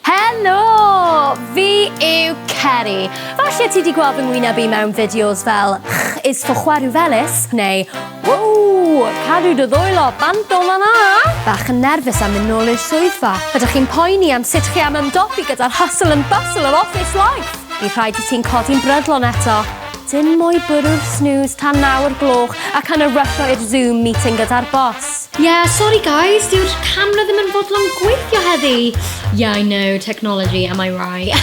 Helo! Fi yw Ceri. Falle ti wedi gweld fy ngwyneb i mewn fideos fel Ch is for chwerw felys neu Wow! Cadw dy ddwylo bant o fan'na! Bach yn nerfus am mynd nôl i'r swyddfa. Ydych chi'n poeni am sut chi am ymdopi gyda'r hustle and bustle of office life? Bydd rhaid i ti'n codi'n brydlon eto. Dim mwy bwrw'r snooze tan nawr gloch ac yn y rysio i'r Zoom meeting gyda'r boss. Yeah, sorry guys, dyw'r camera ddim yn fodlon gweithio heddi. Yeah, I know, technology, am I right?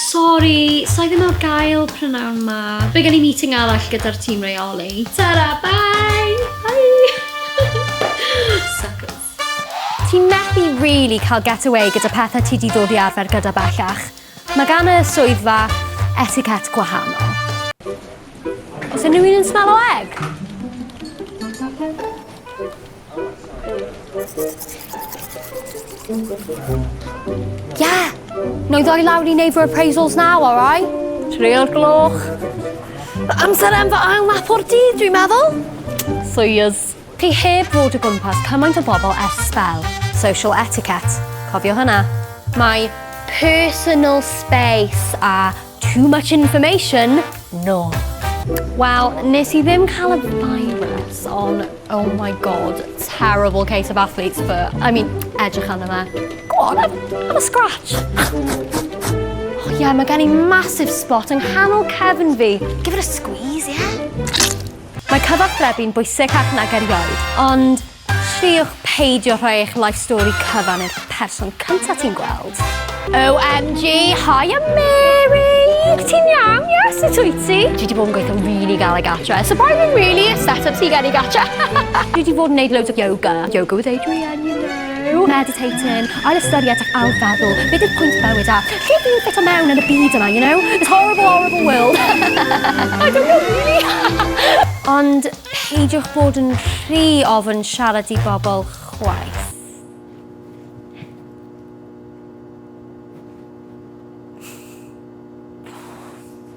sorry, sa'i ddim ar gael prynawn ma. Fe gen i meeting arall gyda'r tîm reoli. Ta-ra, bye! Bye! Suckers. Ti'n methu really cael get away gyda pethau ti di ddod i arfer gyda bellach. Mae gan y swyddfa etiquette gwahanol. Os unrhyw un yn smell o egg? Yeah! No ddoi lawr i neud fy appraisals now, alright? Trio'r gloch. Amser am fy ail nap o'r dydd, dwi'n meddwl. Soyuz. Ti heb fod o gwmpas cymaint o bobl ers sbel. Social etiquette. Cofio hwnna. Mae personal space a too much information nôl. Wel, nes i ddim cael y virus, ond oh my god, terrible case of athlete's foot. I mean, edrych arno fe. Go on, have, have a scratch. Oh yeah, mae gen i massive spot yng nghanol cefn fi. Give it a squeeze, yeah? Mae cyfathrebu'n bwysig ac nag erioed, ond triwch peidio rhoi eich life story cyfan i'r person cyntaf ti'n gweld. OMG, hiya Mary! Ti'n iawn? Ie, sut wyt ti? Dwi wedi bod yn gweithio'n rili galed gatre. Surprising really, y set-up ti gen i gatre. Dwi wedi bod yn neud loads o yoga. Yoga with Adrian, you know. Rhyw, meditating, ail ystyried ac ail feddwl, beth yw pwynt bywyd a lle fi'n ffito mewn yn y byd yma, you know? This horrible, horrible world. I don't know really! Ond peidiwch bod yn rhy ofn siarad i bobl chwaith.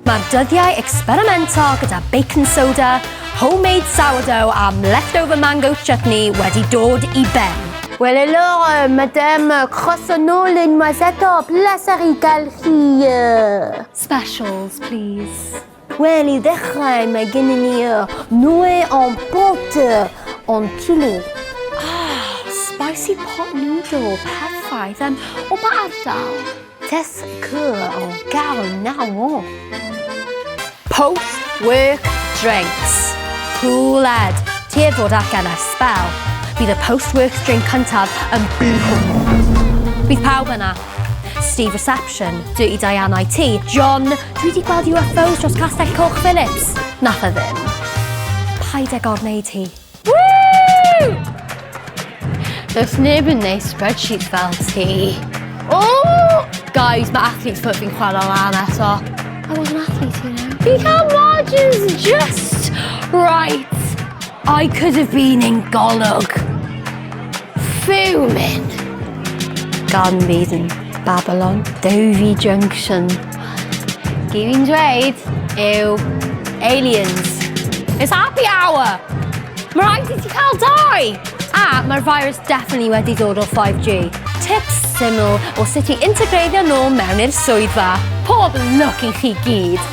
Mae'r dyddiau ecsperimento gyda baking soda, homemade sourdough am leftover mango chutney wedi dod i ben. Wel helo, madem, croeso nôl unwaith eto, bleser i gael chi. Specials, please. Wel, i ddechrau, mae gennym ni y noe en pote, en chili. Ah, spicy pot noodle, perffaith. Um, o ba ardal? Test cŵl o gael naw o. Post work drinks. Cŵl ed. Ti ef fod allan ar sbel. Bydd y post work drink cyntaf yn bihw. Bydd pawb yna. Steve Reception, Dirty Diana i ti, John, dwi wedi gweld UFOs dros Castell Coch Phillips. Nath e ddim. Paid ag orwneud hi. Woo! Does neb yn neud spreadsheet fel ti. Oh! Guys, mae athletes put fi'n chwarae lan eto. I was an athlete, you know. Fi cael margins just right. I could have been in golwg. Fuming. Garden Bees in Babylon. Dovi Junction. Dwi fi'n dweud yw aliens. It's happy hour! Mae rhaid i ti cael dau! A mae'r virus definitely wedi dod o 5G. Tips syml o sut i integreiddio nhw mewn i'r swyddfa. Pob lwc i chi gyd!